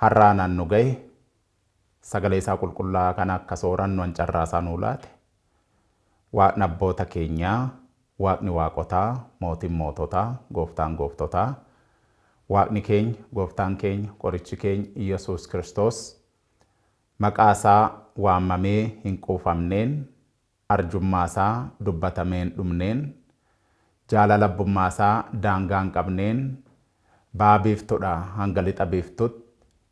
Har'a anaan nu gahe, sagalee isaa qulqullaa'aa kana akka soorannu an carraa isaa nuu laate, Waaqni abboota keenyaa, Waaqni waaqotaa, Mootiin moototaa, Gooftaan gooftotaa, Waaqni keenya, Gooftaan keenya, Qorichi keenya Iyyasuus Kiristoos maqaa isaa waamamee hin quufamneen, arjummaasaa dubbatamee hin dhumneen, jaalala abbummaasaa daangaa hin qabneen, Baha Biiftuudhaa hanga Lixa Biiftuutti,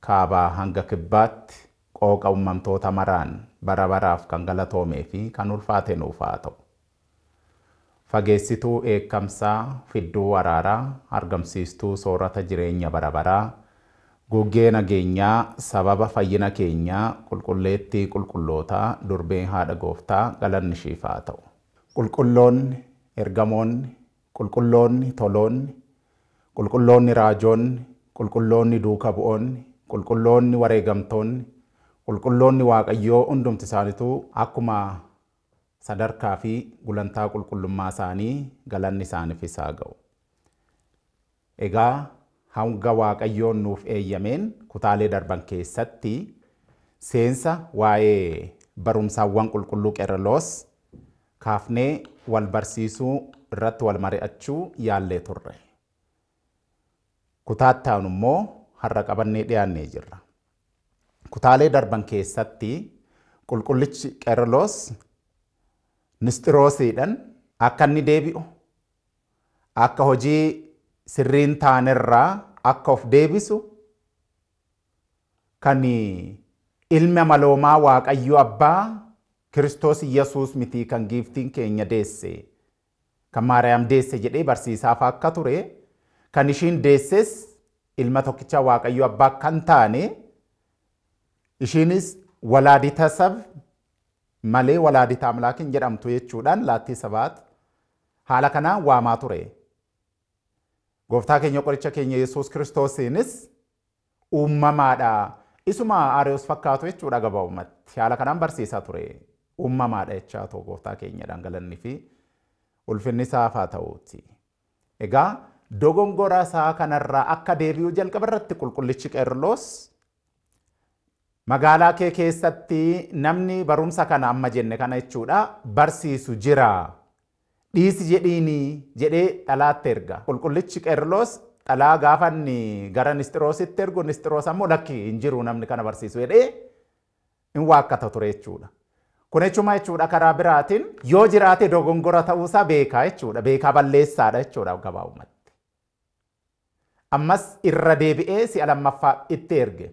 Kaabaa hanga Kibbaatti qooqa ummamtoota maraan bara baraaf kan galatoomee fi kan ulfaate nuuf haa ta'u. Fageessituu dheekkamsaa, fidduu araaraa, argamsiistuu soorata jireenya bara baraa, guggee nageenyaa, sababa fayyina keenyaa, qulqulleettii qulqullootaa, durbee haadha Gooftaa, galanni ishiif haa ta'u. Qulqulloonni, ergamoonni, qulqulloonni, toloonni, qulqulloonni raajoonni, qulqulloonni duuka bu'oonni, qulqulloonni wareegamtoonni, qulqulloonni Waaqayyoo hundumti isaanituu akkuma Sadarkaa fi gulantaa qulqullummaa isaanii galanni isaanifis haa ga'u. Egaa hanga Waaqayyoon nuuf eeyyameen kutaalee darban keessatti seensa waa'ee barumsaawwan qulqulluu Qerreloos kaafnee wal barsiisuu irratti wal mari'achuu yaallee turre. Kutaa itti aanu immoo har'a qabannee dhiyaannee jirra. Kutaalee darban keessatti qulqullichi Qeerloos Nisxiroosiidhan akka inni deebi'u, akka hojii sirrii hin taanerraa akka of deebisu, kan ilmi amaloomaa Waaqayyo Abbaa Kiristoos Yesuus mitii kan giiftiin keenya deesse Kan Maariyaam deesse jedhee barsiisaafaa akka ture, kan ishiin deesses ilma tokkicha Waaqayyo abbaa akka hin taane, ishiinis walaadita sab malee walaadita amlaak hin jedhamtu jechuudhaan laattii sabaat haala kanaan waamaa ture. Gooftaa keenya qoricha keenya Yesuus Kiristoosiinis Uummamaadha. Isuma Ariyoos fakkaatu jechuudha gabaabumatti. Haala kanaan barsiisaa ture. Uummamaadha jechaa too gooftaa keenyadhaan galanni fi ulfinni isaaf haa ta'uuti. Egaa dogongora isaa kanarraa akka deebi'u jalqaba irratti qulqullichi Qeerloos magaalaa kee keessatti namni barumsa kana amma jenne kana jechuudha barsiisu jira Dhiisi jedhiini! jedhee xalaatti erga. Qulqullichi Qeerloos xalaa gaafa inni gara Nisxiroositti ergu, Nisxiroos ammoo lakki hin jiru namni kana barsiisu jedhee hin waakkata ture jechuudha. Kun jechuun maal jechuudha? Karaa biraatiin yoo jiraate dogongora ta'uusaa beekaa jechuudha. Beekaa balleessaadha jechuudha gabaabumatti. Ammas irra deebi'ee si'a lammaffaaf itti erge.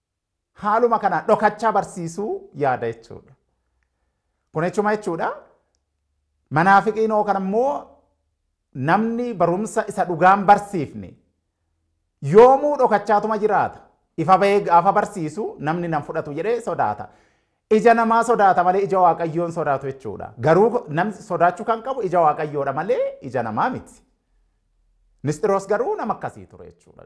Haaluma kanaan dhokachaa barsiisuu yaada jechuudha. Kun jechuuma jechuudha. Manaafiqiin hoo kana immoo namni barumsa isa dhugaan barsiifne yoomuu dhokachaatuma jiraata. Ifa bahee gaafa barsiisu namni nan fudhatu jedhee sodaata. Ija namaa sodaata malee ija waaqayyoon sodaatu jechuudha. Garuu namni sodaachuu kan qabu ija waaqayyoodha malee ija namaa miti. Nisxiroos garuu nama akkasii ture jechuudha.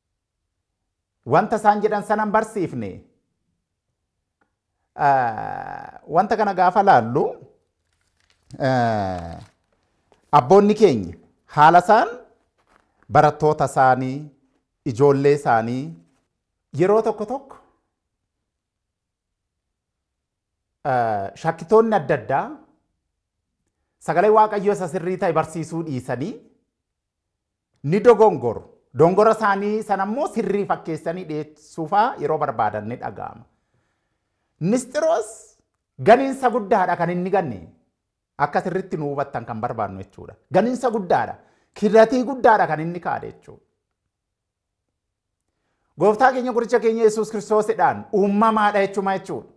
Wanta isaan jedhan sana hin barsiifne. Wanta kana gaafa laallu abboonni keenya haala isaan barattoota isaanii, ijoollee isaanii yeroo tokko tokko shakkitoonni adda addaa sagalee waaqayyoo isa sirrii ta'e barsiisuu dhiisanii ni dogongoru. Dongora isaanii sana immoo sirrii fakkeessanii dhiyeessuufaa yeroo barbaadan ni dhaga'ama. Nisxiroos ganinsa guddaadha kan inni ganne. Akka sirritti nu hubattan kan barbaadnu jechuudha. Ganinsa guddaadha. Kiratii guddaadha kan inni kaa'e jechuudha. Gooftaa keenya guricha keenya Yesuus Kiristoosidhaan uumamaadha jechuun maal jechuudha?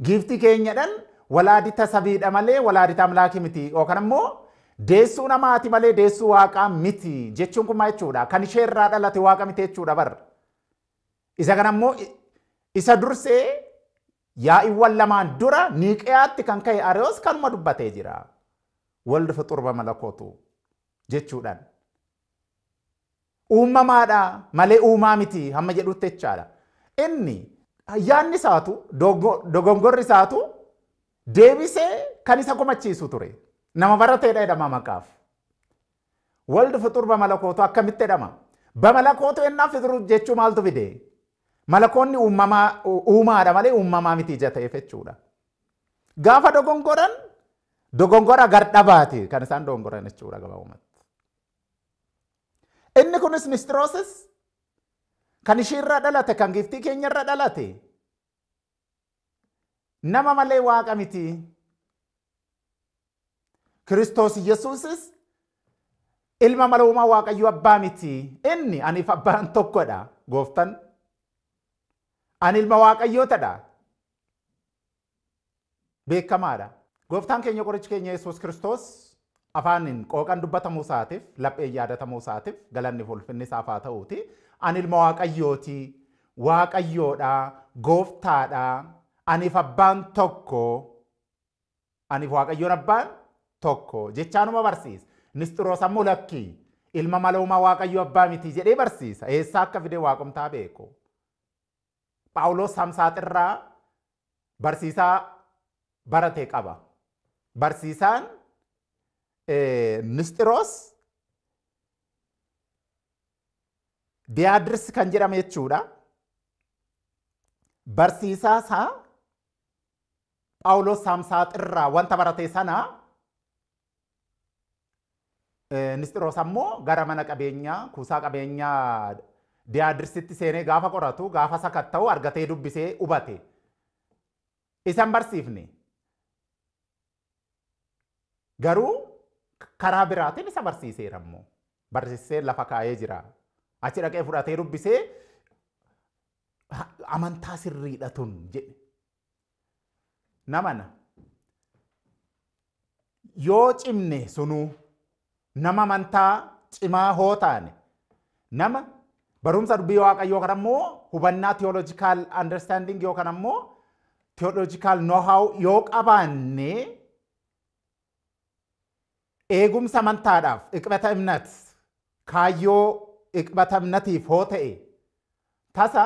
Giiftii keenyadhaan walaadita sabiidha malee walaadita amlaaki miti yookaan immoo deessuu namaati malee deessuu waaqaa miti jechuun kun maal jechuudha? Kan ishee irraa dhalate waaqa miti jechuudha bar. Isa kana immoo isa dursee yaa'iiwwan lamaan dura niiqiyaatti kan ka'e ariyoos kanuma dubbatee jira. Waldi fuxurba malakootu jechuudhaan. Uummamaadha malee uumaa miti hamma jedhutti jechaadha. Inni yaadni isaatu dogongorri isaatu deebisee kan isa komachiisu ture. Nama barateedha jedhama maqaaf. Waldi fuxur bamalakootu akkamitti jedhama? Bamalakootu ennaa fixuru jechuu maaltu fide? Malakoonni uumamaa uumaadha malee uumamaa miti ija ta'eef jechuudha. Gaafa dogongoran dogongora gardhabaati kan isaan dogongoran jechuudha gabaabumatti. Inni kunis Nistiroosis kan ishiirra dhalate kan giiftii keenyarra dhalate nama malee waaqa miti. Kiristoos Yesuusis ilma maloomaa waaqayyo abbaa miti. Inni aniif abbaan tokkodha gooftan. Ani ilma waaqayyootadha. beekamaa dha. Gooftaan keenya qorichi keenya Yesuus Kiristoos afaaniin qooqan dubbatamuu isaatiif, lapheen yaadatamuu isaatiif galanni fi ulfinni isaaf haa ta'uuti. Ani ilma Waaqayyooti, Waaqayyoo dha, Gooftaa dha, aniif abbaan tokko, aniif Waaqayyoon abbaan tokko jechaa numa barsiisa. Nisxiroos ammoo lakkii ilma maloomaa Waaqayyoo abbaa miti jedhee barsiisa. Eessaa akka fide waaqumtaa beeku. Phaawulos Samsaaxirraa barsiisaa barate qaba. Barsiisaan Nisxiroos Diyaadirs kan jedhame jechuudha. Barsiisaa isaa Phaawulos Samsaaxirraa wanta barate sana Nisxiroos ammoo gara mana qabeenyaa kuusaa qabeenyaa Diyaadirsitti seenee gaafa qoratu gaafa sakatta'u argatee dubbisee hubate. Isan barsiifne. Garuu karaa biraatiin isa barsiiseera immoo. Barsiisee lafa kaa'ee jira. Achi dhaqee fudhatee dubbisee amantaa sirriidha tun jedhe. namana yoo cimne sunuu nama amantaa cimaa hoo taane nama barumsa dubbii waaqayyoo yookaan ammoo hubannaa theological understanding yookaan ammoo theological know-how yoo qabaanne Eegumsa amantaadhaaf, iqbata imnat, kaayyoo iqbata imnatiif hoo ta'e, tasa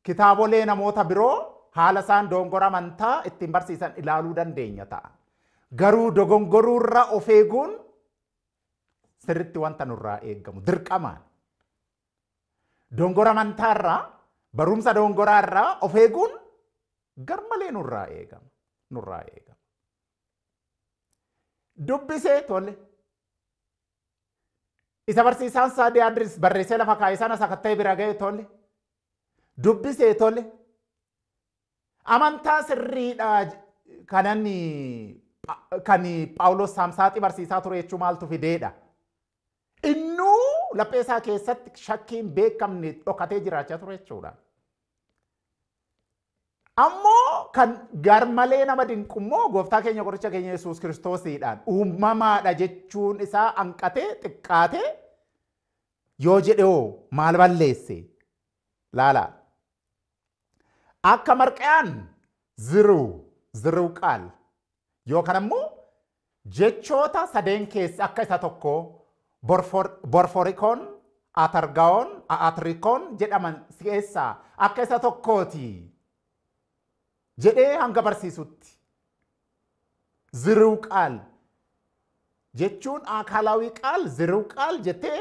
kitaabolee namoota biroo haala isaan doongora amantaa ittiin barsiisan ilaaluu dandeenya ta'a. Garuu dogongoruurra of eeguun sirritti wanta nurraa eegamu dirqamaan. Dongora amantaarraa, barumsa dongoraarraa of eeguun garmalee nurraa eegama. Nurraa eegama. dubbisee tole. Isa barsiisaan isaa Diyaadris barreessee lafa kaa'e sana sakatta'ee bira ga'e tole. Dubbisee tole. Amantaa sirriidha kanan kan Phaawulos Saamsaaxii barsiisaa ture jechuu maaltu fideedha. Innuu laphee isaa keessatti shakkiin beekamne dhokatee jiraachaa ture jechuudha. Ammoo kan garmalee nama dinqu immoo gooftaa keenya qoricha keenya Yesuus Kiristoosiidhaan uumamaadha jechuun isaa hanqatee xiqqaatee yoo jedhe hoo maal balleesse? Laalaa. Akka marqayaan ziruu ziruu qaal Yookan ammoo jechoota sadeen keessa akka isa tokko borfor, borforikoon, atargawoon, a'atrikoon jedhaman keessaa akka isa tokkooti jedhee hanga barsiisutti. Ziriw qaal jechuun aakaalawii qaal ziriw qaal jettee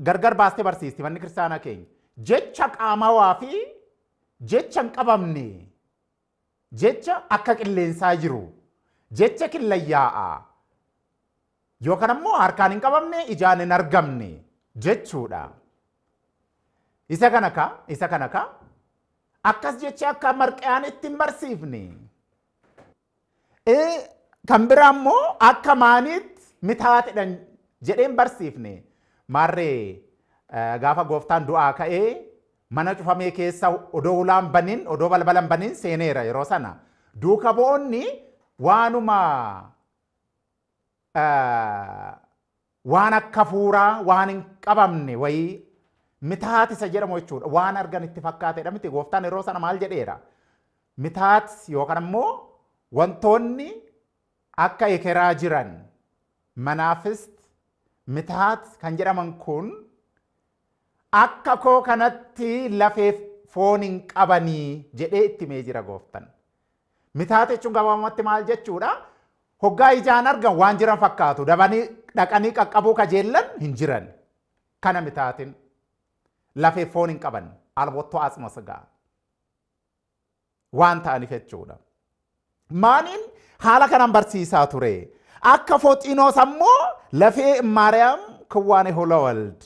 gargar baastee barsiisti manni kiristaanaa keenya. Jecha qaamawaa fi jecha hin qabamne. Jecha akka qilleensaa jiru. Jecha killayaa'aa. Yookan ammoo harkaan hin qabamne, ijaan hin argamne jechuudha. Isa kana ka, isa kana ka. Akkas jecha akka marqayaan itti hin barsiifne. Eh, Kan biraa ammoo akka maaniitti mitaatidhan jedhee hin barsiifne. Maarree eh, gaafa gooftaan du'aa ka'ee Mana cufamee keessa odoo hulaa hin banin, odoo balbala hin banin seeneera yeroo sana. Duuka bu'oonni waanuma eh, waan akka fuuraa waan hin qabamne wayii mitaat isa jedhamu jechuudha. Waan argan itti fakkaatedha miti. Gooftaan yeroo sana maal jedheera? Mitaat yookaan immoo wantoonni akka ekeraa jiran manaafis mitaat kan jedhaman kun Akka koo kanatti lafeef foon hin qabanii jedhee itti himee jira gooftan. Mitaata jechuun gabaabumatti maal jechuudha? Hoggaa ijaan argan waan jiran fakkaatu dabanii dhaqanii qaqqabuu kajeellan hin jiran. Kana mitaatin lafeef foon hin qaban albottoo atsma sigaa. waan ta'aniif jechuudha. Maaniin haala kanaan barsiisaa ture. Akka Foxinoos ammoo lafee Maariyaam Kiwwaane Holawald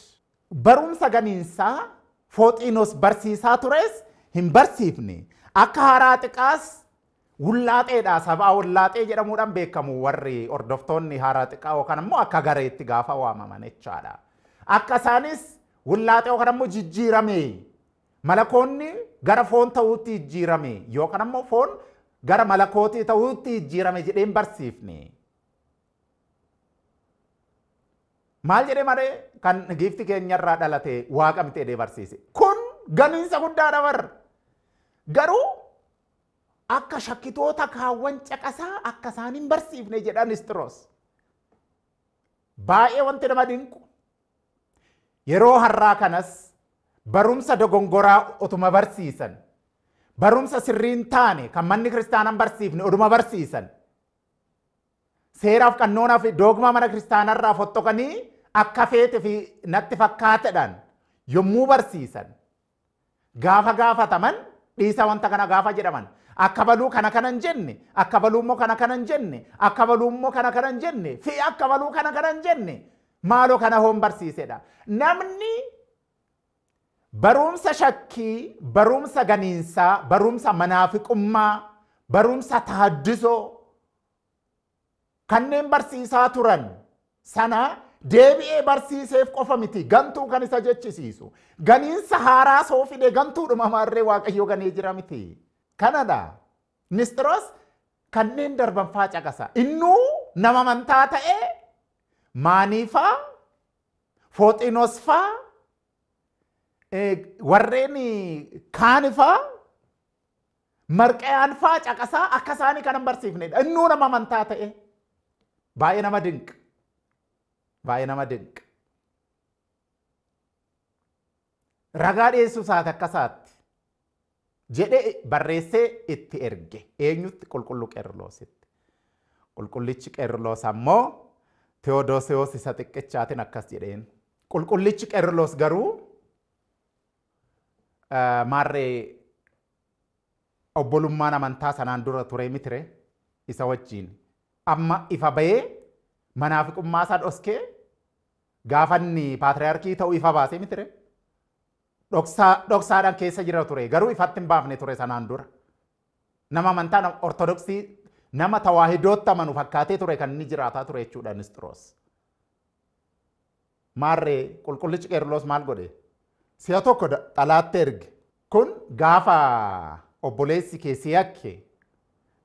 barumsa ganiinsaa Foxinoos barsiisaa tures hin barsiifne. Akka haaraa xiqaas wullaaxeedha sabaa wullaaxee jedhamuudhaan beekamu warri hordoftoonni haaraa xiqaa yookaan immoo akka gareetti gaafa waamaman jechaadha. Akka isaanis wullaaxee yookaan immoo jijjiiramee Malakoonni gara foon ta'uutti jijjiirame yookaan ammoo foon gara malakootii ta'uutti jijjiirame jedhee hin barsiifne. Maal jedhee malee kan giifti keenyarraa dhalate waaqa miti jedhee barsiise. Kun ganiinsa guddaadha bar. Garuu akka shakkitoota kaawwan caqasaa akka isaan hin barsiifne jedhan Isxiroos. Baay'ee wanti nama dinqu Yeroo har'aa kanas barumsa dogongoraa otuma barsiisan, barumsa sirrii hin taane kan manni kiristaanaa hin barsiifne oduma barsiisan, seeraaf qannoonaa fi doogmaa mana kiristaanaa irraa foxxoqanii akka feete fi natti fakkaatedhaan yommuu barsiisan, Gaafa gaafataman dhiisa wanta kana gaafa jedhaman akka baluu kana kana hin jenne akka baluu immoo kana kana hin jenne akka baluu immoo kana kana hin jenne fi akka baluu kana kana hin jenne maaloo kana hoon barsiisedha. Namni barumsa shakkii, barumsa ganiinsaa, barumsa manaafiqummaa, barumsa taaddisoo kanneen barsiisaa turan sana deebi'ee barsiiseef qofa miti gantuu kan isa jechisiisu. Ganiinsa haaraa soo fide gantuudhuma maarree waaqayyo ganee jira miti. Kanadha. Nisxiroos kanneen darban faa caqasa. Innuu nama amantaa ta'e maaniifaa fooxinos faa warreen kaanifaa Marqayaan faa caqasaa akka isaanii kanan barsiifnedha. Innuu nama amantaa ta'e. Baay'ee nama dinqa. Baay'ee nama dinqa. Ragaa dhiyeessuu isaati akka isaatti jedhee barreessee itti erge. Eenyutti qulqulluu Qeerloositti. Qulqullichi Qeerloos ammoo Tewodoosiyoos isa xiqqichaatiin akkas jedheen. Qulqullichi Qeerloos garuu maarree Obbolummaan amantaa sanaan dura ture mitire isa wajjin amma ifa ba'ee manaafiqummaa isaa dhoskee gaafa inni paatriyaarkii ta'u ifa baase mitire dhoksaa dhoksaadhaan keessa jira ture garuu ifatti hin baafne ture sanaan dura nama amantaa nama ortodoksii nama tawaahidootti amanu fakkaatee ture kan inni jiraataa ture jechuudha Nisxiroos. Maarree qulqullichi Qeerloos maal godhe? Si'a tokko da- xalaatti erge. Kun gaafa obboleessi kee si yakke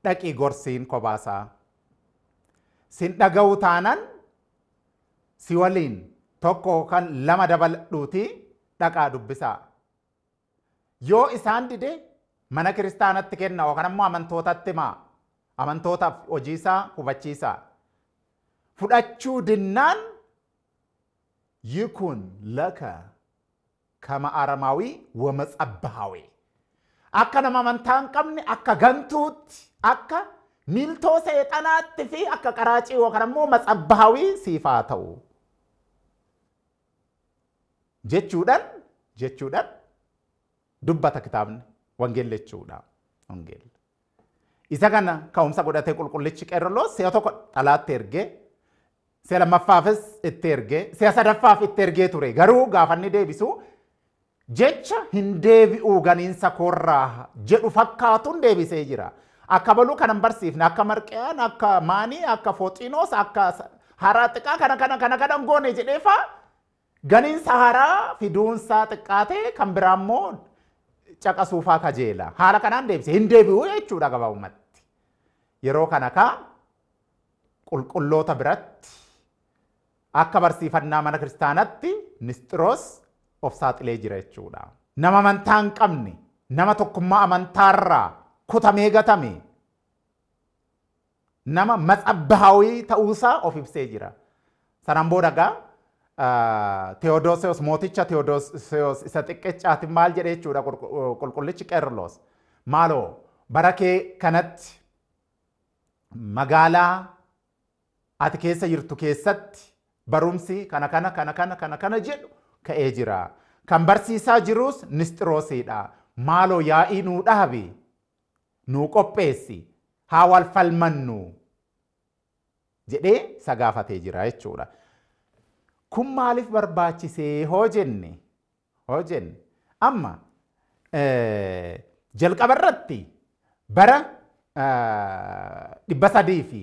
dhaqii gorsiin kobaasaa. Sin dhaga'u taanan si waliin tokko yookaan lama dabaladhuutii dhaqaa dubbisaa. Yoo isaan dide mana kiristaanatti kenna yookaan ammoo amantootatti himaa. Amantootaaf hojii isaa hubachiisaa. Fudhachuu dinnaan yikun laka kama aramaawii wamatsabbahaawee. Akka nama amantaa hin qabne akka gantuutti akka miiltoo seexanaatti fi akka qaraacii yookaan ammoo matsabbahawii siif haa ta'u. jechuudhaan jechuudhaan dubbata kitaabni wangeelli jechuudha. Wangeelli. Isa kana ka'umsa godhatee qulqullichi qeerroloo si'a tokko dhalaatti ergee si'a lammaffaafis itti ergee si'a sadaffaaf itti ergee ture garuu gaafanni deebisu Jecha hin deebi'uu ganiinsa koorraa jedhu fakkaatuun deebisee jira. Akka baluu kana hin barsiifne, akka marqiyaan, akka maanii, akka fooxiinoos, akka haraa xiqaa kana kana kana kana hin goone jedhee faa ganiinsa haraa fiduunsaa xiqqaatee kan biraa immoo caqasuufaa kajeela. Haala kanaan deebise hin deebi'uu jechuudha gabaabumatti. Yeroo kana kaa qulqulloota biratti Akka barsiifannaa mana kiristaanatti Nisxiroos of saaxilee jira jechuudha. Nama amantaa hin qabne, nama tokkummaa amantaarraa kutamee gatame, nama matsabbaawii ta'uusaa of ibsee jira. Sanaan booda egaa Tewodoosiyoos mooticha Tewodoosiyoos isa xiqqeechaatiin maal jedhe jechuudha qulqullichi Qeerloos. Maaloo bara kee kanatti magaalaa ati keessa jirtu keessatti barumsi kana kana kana kana kana kana jedhu ka'ee jira. Kan barsiisaa jiruus Nisxiroosiidha. Maaloo yaa'ii nuu dhaabi. Nuu qopheessi. Haa wal falmannu. jedhee isa gaafatee jira jechuudha. Kun maaliif barbaachisee hoo jenne hoo jenne amma jalqaba irratti bara dhibba sadii fi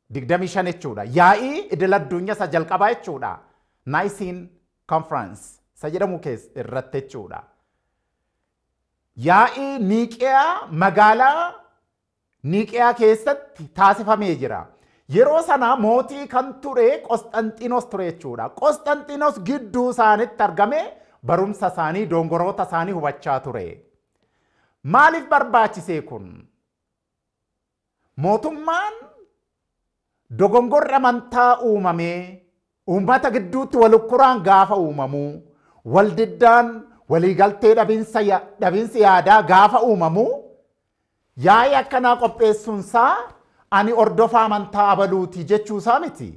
digdamii shan jechuudha. Yaa'ii idil addunyaa isa jalqabaa jechuudha. Naayisiin konfiraansi isa jedhamu irratti jechuudha. Yaa'ii Niiqiyaa magaalaa Niiqiyaa keessatti taasifamee jira. Yeroo sana mootii kan ture Qosxanxinos ture jechuudha. Qosxanxinos gidduu isaanitti argamee barumsa isaanii dongoroota isaanii hubachaa ture. Maaliif barbaachisee kun? Mootummaan Dogongorri amantaa uumamee uummata gidduutti wal ukkuraan gaafa uumamu, wal diddaan, walii galtee dhabinsa, dhabinsi yaadaa gaafa uumamu yaa'ii akkanaa qopheessuun isaa ani hordofaa amantaa abaluuti jechuu isaa miti.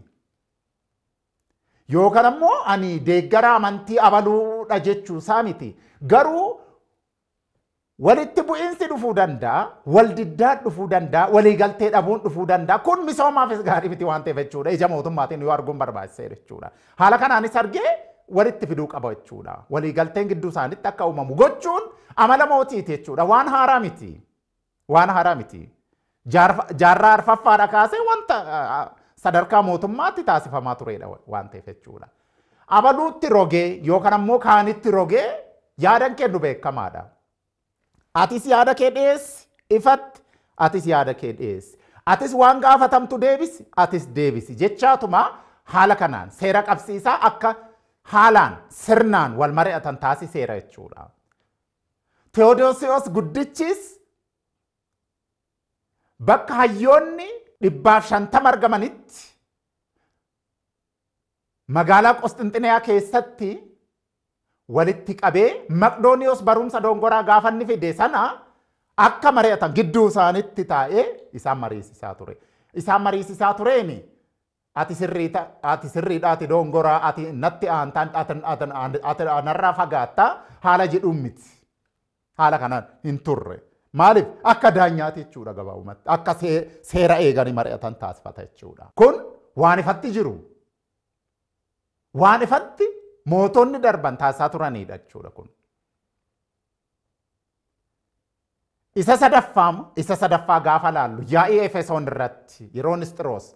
Yookaan ammoo ani deeggaraa amantii abaluudha jechuu isaa miti. Garuu Walitti bu'iinsi dhufuu danda'a, waldiddaan dhufuu danda'a, waliigaltee dhabuun dhufuu danda'a. Kun misoomaafis gaarii miti waan ta'eef jechuudha. Ija mootummaatiin yoo arguun barbaachiseera jechuudha. Haala kanaanis argee walitti fiduu qaba jechuudha. Waliigalteen gidduu isaaniitti akka uumamu gochuun amala mootiiti jechuudha. Waan haaraa miti. Waan haaraa miti. Jaarfa- Jaarraa arfaffaadha kaasee wanta ah, sadarkaa mootummaatti taasifamaa turedha wa- waan ta'eef jechuudha. Abaluutti rogee yookaan ammoo kaanitti rogee yaadan kennu beekamaadha. Atis yaada kee dhiyeessi ifatti atis yaada kee dhiyeessi. Atis waan gaafatamtu deebisi atis deebisi jechaatuma haala kanaan seera qabsiisaa akka haalaan sirnaan wal mari'atan taasiseera jechuudha. Tewodoosiyoos Guddichis bakka hayyoonni dhibbaaf shantama argamanitti magaalaa Qosxinxiniyaa keessatti walitti qabee Maqdooniyoos barumsa dongoraa gaafa inni fide sana akka mari'atan gidduu isaanitti taa'ee isaan mariisisaa ture. Isaan mariisisaa tureeni Ati sirriita, ati sirriidha, ati doongoraa, ati natti aantaan, ati, ati, ati, ati narraa fagaatta haala jedhuun miti. Haala kanaan hin turre. Maaliif? Akka daanyaati jechuudha gabaabumatti. Akka see, seera eeganii mari'atan taasifata jechuudha. Kun waan ifatti jiru. Waan ifatti mootonni darban taasisaa turanidha jechuudha kun. Isa sadaffaa isa sadaffaa gaafa laallu yaa'ii Efesoon irratti yeroo Nisxiroos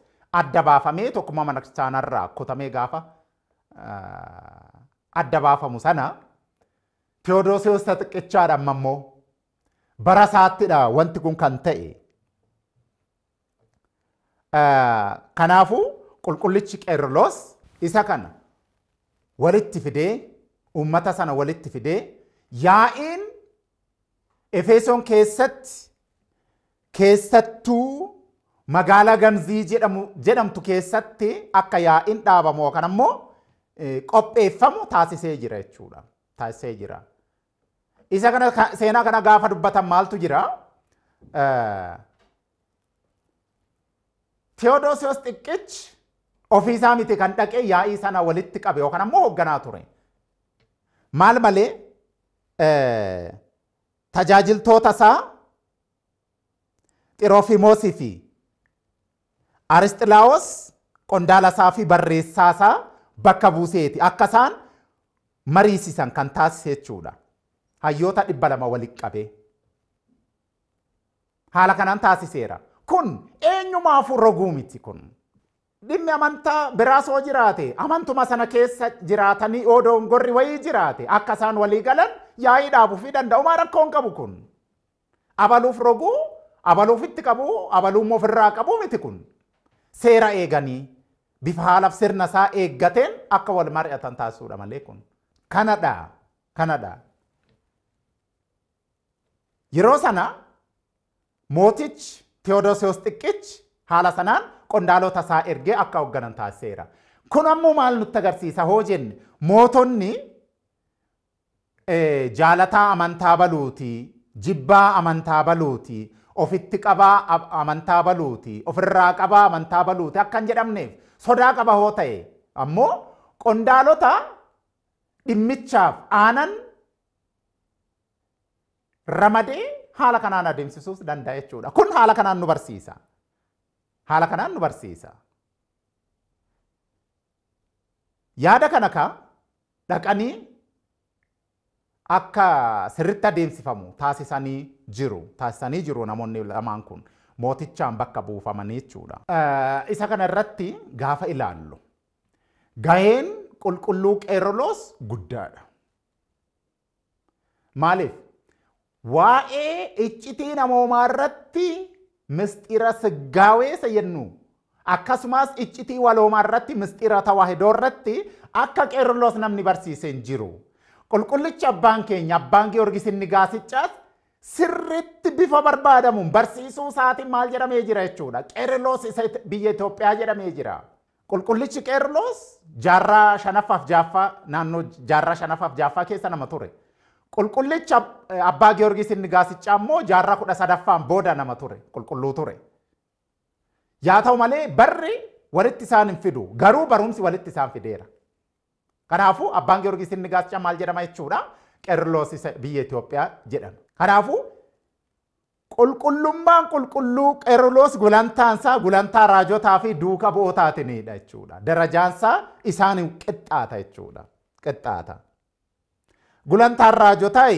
adda baafamee tokkummaa mana kiristaanaa irraa kutamee gaafa adda baafamu sana Tewodoosiyoos isa xiqqichaadha amma immoo bara isaattidha wanti kun kan ta'e. Kanaafuu qulqullichi Qeerloos isa kana walitti fidee uummata sana walitti fidee yaa'iin Efeesoon keessatti keessattuu magaalaa Gamzii jedhamu jedhamtu keessatti akka yaa'iin dhaabamu yookaan ammoo qopheeffamu taasisee jira jechuudha. Taasisee jira. Isa kana ka- seenaa kana gaafa dubbatan maaltu jira? Eh, Tewodoosiyoos xiqqichi ofiisaa miti kan dhaqee yaa'ii sana walitti qabe yookaan ammoo hoogganaa ture. Maal malee eh, tajaajiltoota isaa Xirofimoosii fi Arisxilaawos qondaala isaa fi barreessaa isaa bakka buuseeti akka isaan mariisisan kan taasise jechuudha. Hayyoota dhibba lama walitti qabee. Haala kanaan taasiseera. Kun eenyumaafuu roguu miti kun. Dhimmi amantaa biraas yoo jiraate amantuma sana keessa jiraatanii yoo doongorri wayii jiraate akka isaan walii galan yaa'ii dhaabuufii danda'umaa rakkoon qabu kun. Abaluuf roguu, abalu ofitti qabuu, abaluummoo ofirraa qabuu miti kun. Seera eeganii, bifa haalaf sirna isaa eeggateen akka wal mari'atan taasisuudha malee kun. Kanadha. Kanadha. Yeroo sana mootichi Tewodoosiyoos Xiqqichi haala sanaan qondaalota isaa ergee akka hoogganan taasiseera. Kun ammoo maal nutti agarsiisa hoo jenne mootonni Jaalataa amantaa baluuti, jibbaa amantaa baluuti, ofitti qabaa amantaa baluuti, ofirraa qabaa amantaa baluuti akka hin jedhamneef sodaa qaba hoo ta'e ammoo qondaalota dhimmichaaf aanan ramadee haala kanaan adeemsisuus danda'a jechuudha. Kun haala kanaan nu barsiisa. Haala kanaan nu barsiisa. Yaada kana ka dhaqanii akka sirritti adeemsifamu taasisanii jiru taasisanii jiru namoonni lamaan kun mootichaan bakka buufamanii jechuudha. Isa kana irratti gaafa ilaallu gaheen qulqulluu qeerroloos guddaadha. Maaliif? Waa'ee iccitii namoomaa irratti misxira siggaawee isa jennu akkasumas iccitii waloomaa irratti misxira tawaahidoo irratti akka Qeerloos namni barsiise hin jiru. Qulqullichi abbaan keenya abbaan Giyoorgis inni gaasichaas sirriitti bifa barbaadamuun barsiisuu isaatiin maal jedhamee jira jechuudha. Qeerloos isa biyya Itoophiyaa jedhamee jira. Qulqullichi Qeerloos jaarraa shanaffaaf jaaffaa naannoo jaarraa shanaffaaf jaaffaa keessa nama ture. Qulqullichi Abbaa Giyoorgis inni gaasiccaa immoo jaarraa kudha sadaffaan booda nama ture. Qulqulluu ture. Yaa ta'u malee barri walitti isaan hin fidu. Garuu barumsi walitti isaan fideera. Kanaafuu Abbaan Giyoorgis inni gaasiccaa maal jedhama jechuudha? Qeerloos biyya Itoophiyaa jedhama. Kanaafuu Qulqullummaan qulqulluu Qeruloos gulantaan isaa gulantaa raajotaa fi duuka bu'ootaatiniidha jechuudha. Darajaan isaa isaaniin qixxaata jechuudha. Qixxaata. Gulantaan raajotaa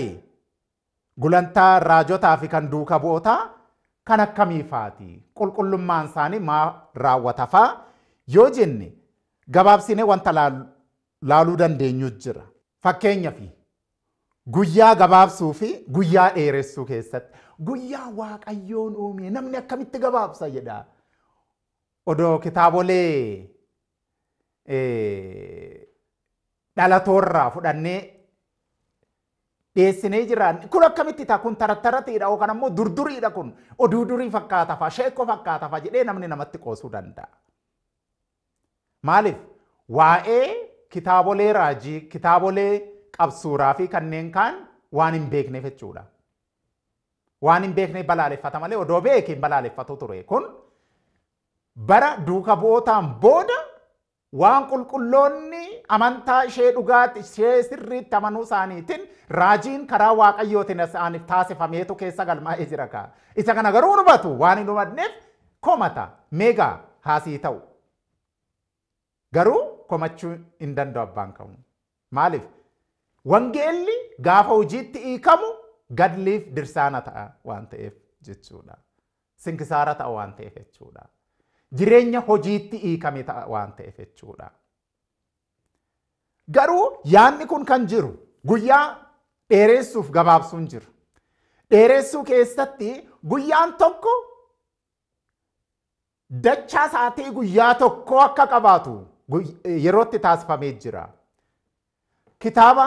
gulantaa raajotaa fi kan duuka bu'ootaa kan akkamii faati? Qulqullummaan isaanii maa raawwata faa? Yoo jenne gabaabsinee wanta laaluu dandeenyu jira. Fakkeenyaaf Guyyaa gabaabsuu fi guyyaa dheeressuu keessatti guyyaa waaqayyoon uumee namni akkamitti gabaabsa jedha. Odoo kitaabolee dhalatoorraa fudhannee dhiyeessinee jiraan kun akkamitti ta'a kun tarattaratiidha yookaan ammoo durduriidha kun oduu durii fakkaatafa sheekko fakkaatafa jedhee namni namatti qoosuu danda'a. Maaliif? Waa'ee kitaabolee raajii, kitaabolee qabsuuraa fi kanneen kaan waan hin beekneef jechuudha. Waan hin beekneef balaaleffata malee odoo beeke hin balaaleffatu ture. Kun bara duuka bu'ootaan booda waan qulqulloonni amantaa ishee dhugaatti ishee sirriitti amanuu isaaniitiin raajiin karaa waaqayyootiin isaaniif taasifameetu keessa galmaa'ee jira kaa. Isa kana garuu hin hubatu waan hin hubanneef komata mega haa sii ta'u garuu komachuu hin danda'u abbaan kamuu maaliif wangeelli gaafa hojiitti hiikamu gadliif dirsaana ta'a waan ta'eef jechuudha sinkisaara ta'a waan ta'eef jechuudha jireenya hojiitti hiikame ta'a waan ta'eef jechuudha. Garuu yaadni kun kan jiru guyyaa dheereessuuf gabaabsuun jiru. Dheereessuu keessatti guyyaan tokko dachaa sa'atii guyyaa tokkoo akka qabaatu yerootti taasifamee jira. Kitaaba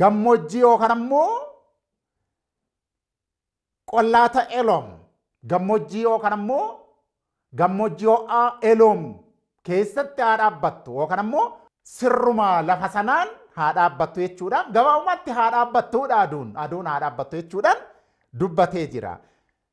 gammoojjii yookaan ammoo qollaata Eloom gammoojjii yookaan ammoo gammoojjii ho'aa Eloom keessatti haa dhaabbattu yookaan ammoo sirruma lafa sanaan haa dhaabbattu jechuudhaan gabaabumatti haa dhaabbattuudha aduun aduun haa dhaabbattu jechuudhaan dubbatee jira.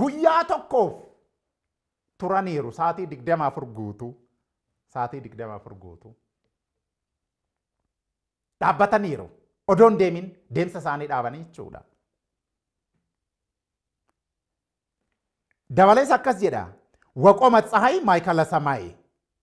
Guyyaa tokkoof turaniiru saatii 24 guutuu saatii 24 guutuu dhaabbataniiru odoon deemin deemsa isaanii dhaabanii jechuudha. Dabalees akkas jedha waqoma tsahay maayikala samaayee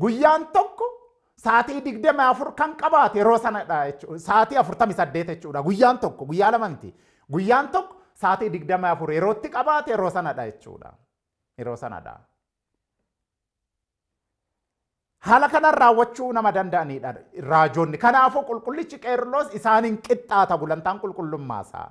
Guyyaan tokko saatii 24 kan qabaate yeroo sanadha jechuudha. Saatii 48 jechuudha. Guyyaan tokko guyyaa lama miti. Guyyaan tokko saatii 24 yerootti qabaate yeroo sanadha jechuudha. Yeroo sanadha. Haala kanaan raawwachuu nama danda'anidha raajonni. Kanaafuu qulqullichi Qeerloos isaaniin qixxaata gulantaan qulqullummaa isaa.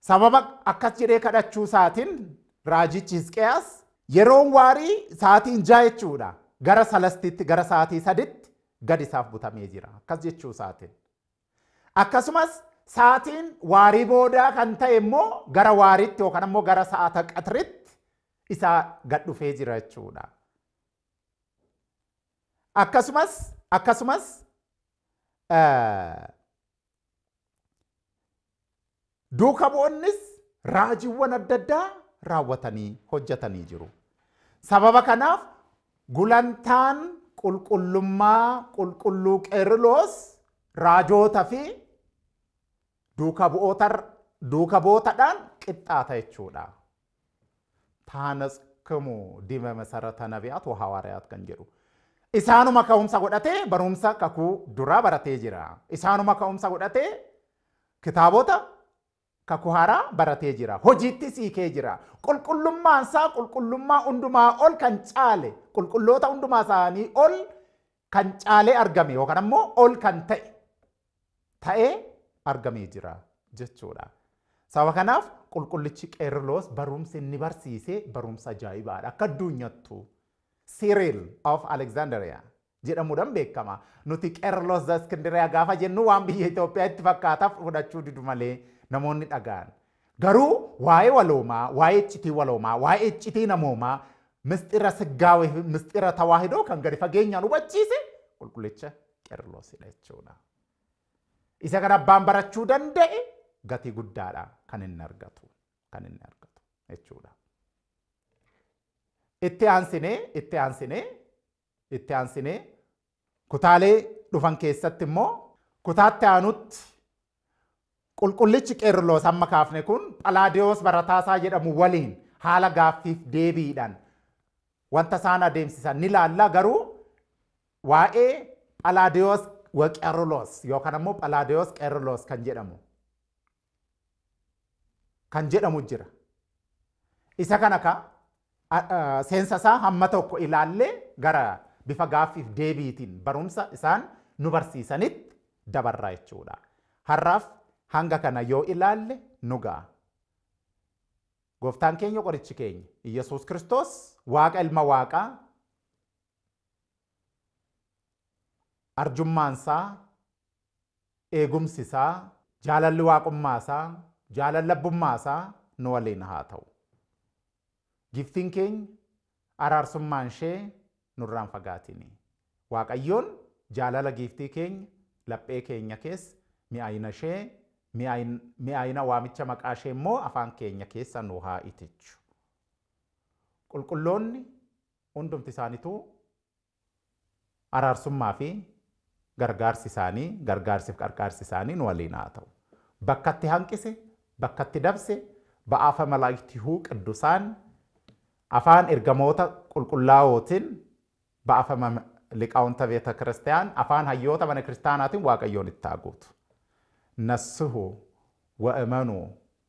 Sababa akkas jedhee kadhachuu isaatiin raajichi Hisqiyaas yeroon waarii sa'aatiin ja'a jechuudha. Gara salastiitti gara sa'aatii saditti gad isaaf butamee jira. Akkas jechuu isaatiin. Akkasumas sa'aatiin waarii boodaa kan ta'e immoo gara waariitti yookaan immoo gara sa'aata qaxritti isaa gad dhufee jira jechuudha. Akkasumas akkasumas Duuka bu'onnis raajiiwwan adda addaa raawwatanii hojjetanii jiru. Sababa kanaaf gulantaan qulqullummaa qulqulluu Qeeriloos raajoota fi duuka bu'ootadhaan qixxaata jechuudha. Taanatskmu dime Mesarata Nabiyaat wa Hawaariyaat kan jedhu isaanuma ka'umsa godhatee barumsa kakuu duraa baratee jira. Isaanuma ka'umsa godhatee kitaabota kakuu haaraa baratee jira. Hojiittis hiikee jira. Qulqullummaan isaa qulqullummaa hundumaa ol kan caale qulqulloota hundumaa isaanii ol kan caalee argame yookaan ammoo ol kan ta'e ta'ee argamee jira jechuudha. Sababa kanaaf qulqullichi Qeerloos barumsi inni barsiise barumsa ajaa'ibaadha. Akka addunyaattu Cyril of Alexandria jedhamuudhaan beekama. Nuti Qeerloos Iskindiriyaa gaafa jennu waan biyya Itoophiyaa itti fakkaataaf fudhachuu didu malee namoonni dhaga'an. Garuu waa'ee waloomaa, waa'ee iccitii waloomaa, waa'ee iccitii namoomaa, misxira siggaawee fi misxira tawaahidoo kan gadi fageenyaan hubachiise qulqullicha Qerloosidha jechuudha. Isa kan abbaan barachuu danda'e gatii guddaadha kan inni argatu kan inni argatu jechuudha. Itti aansinee itti aansinee Itti aansinee kutaalee dhufan keessatti immoo kutaatti aanutti qulqullichi Qeerloos amma kaafne kun Phalaadiyoos barataasaa jedhamu waliin haala gaaffiif deebiidhaan wanta isaan adeemsisan ni laalla garuu waa'ee Phalaadiyoos waqeerloos yookaan ammoo Phalaadiyoos Qeerloos kan jedhamu kan jedhamu jira. Isa kana ka seensa isaa hamma tokko ilaallee gara bifa gaaffiif deebiitiin barumsa isaan nu barsiisanitti dabarraa jechuudha. Har'aaf hanga kana yoo ilaalle nu ga'a. Gooftaan keenya qorichi keenya Iyyasuus Kiristoos Waaqa ilma Waaqaa arjummaansaa Eegumsi isaa, jaalalli Waaqummaa isaa, jaalalli abbummaa isaa nu waliin haa ta'u. Giiftiin keenya araarsummaan ishee nurraa hin fagaatiin. Waaqayyoon jaalala giiftii keenya laphee keenya keessa, mi'aayina ishee, mi'aayina waamicha maqaa ishee immoo afaan keenya keessa nu haa itichu. Qulqulloonni hundumti isaanituu Araarsummaa fi gargaarsi isaanii, gargaarsi fi qarqaarsi isaanii nu waliin haa ta'u. Bakkatti hanqise, bakkatti dabse, ba'aafa malaayktihuu qiddusaan, afaan ergamoota qulqullaa'ootin, ba'afama liqaawunta beeta kiristiyaan, afaan hayyoota mana kiristaanaatin Waaqayyoon itti haa guutu. Nassihu, wa'emanuu,